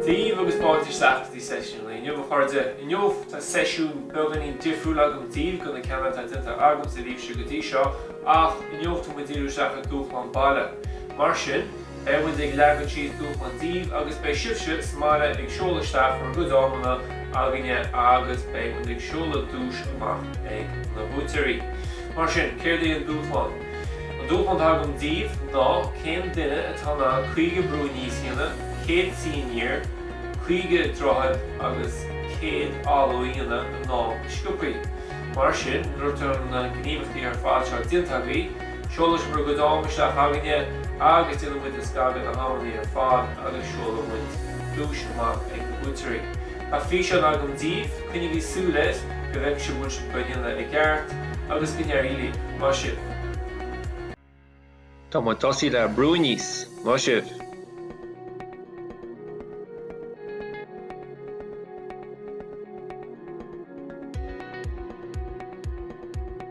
Dia daoibh agus fáilte isteach go dtí seisiún an lae inniu a chairde. Inniu tá seisiún beagáinín difriúil agam daoibh ó na ceanna atá déanta agamsa libhse go dtí seo ach inniu tá muid díriú isteach ar dúshlán baile. Mar sin. Beidh muid ag leagan síos dúshlán daoibh agus beidh sibhse sa mbaile ag seoladh isteach bhur gcuid amanna againne agus beidh muid ag seoladh duais amach ag na buaiteoirí. Mar sin, céard é an dúshlán? An dúshlán atá agam daoibh ná cén duine atá in ann 50 brú aníos a dhéanamh, 100 suí aniar, 50 droichead agus 100 áladh a dhéanamh san am is sciobthaí. Mar sin, nuair atá na gníomhachtaí ar fad seo déanta agaibh, Seolann sibh bhur gcuid am isteach againne agus déanann muid scagadh ar na hamannaí ar fad agus seolann muid duais amach ag na buaiteoirí. Tá físeán agam daoibh, coinnigí súil air go bhfeicfidh sibh muid dhá ndéanamh i gceart agus go n-éirí libh. Maith sibh! Tá muid tosaithe le brú aníos! Maith sibh!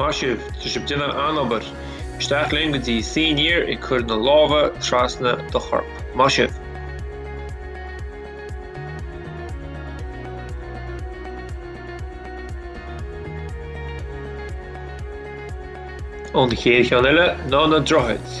Maith sibh! Tá sibh déanamh an-obair! Isteach linn go dtí suí aniar, ag cur na lámha trasna do chorp. Maith sibh! An chéad cheann eile ná na Droichid.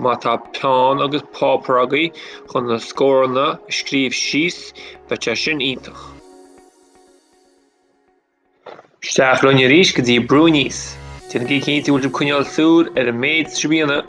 Má tá peann agus páipear agaibh chun na scóranna a scríobh síos, beidh sé sin iontach. Isteach linn arís go dtí brú aníos. Déanaigí cinnte go bhfuil sibh coinneáil súil ar an méid atá sibh a dhéanamh.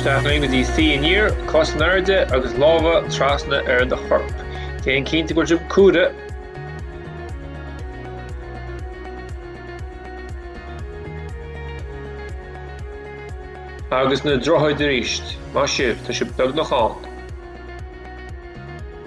Isteach linn go dtí suí aniar, cosa in airde agus lámha trasna ar do chorp. Déan cinnte go bhfuil sibh ag comhaireamh. Agus na droichid arís. Maith sibh, tá sibh beagnach ann.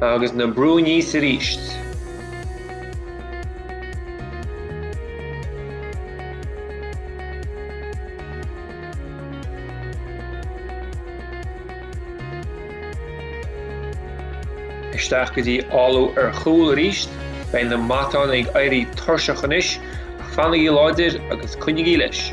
Agus na brú aníos arís. Isteach go dtí áladh ar chúl arís. Beidh na matáin ag éirí tuirseach anois, ach fanaigí láidir agus coinnígí leis.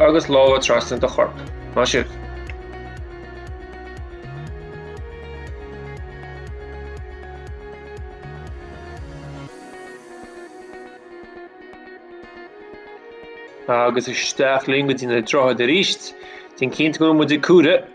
agus lámha trasna do chorp. Maith sibh! Agus isteach linn go dtí na droichid arís. Déan cinnte go bhfuil muid ag comhaireamh.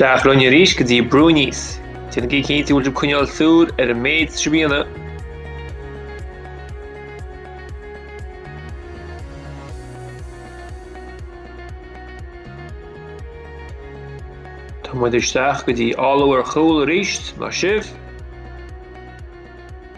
Isteach linn arís go dtí brú aníos. Déanaigí cinnte go bhfuil sibh ag coinneáil súil ar an méid sraitheanna. Tá muid isteach go dtí áladh ar chúl arís, maith sibh.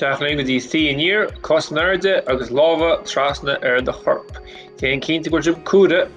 Isteach linn go dtí suí aniar, cos in airde agus lámha trasna ar do chorp. Déan cinnte go bhfuil sibh ag comhaireamh.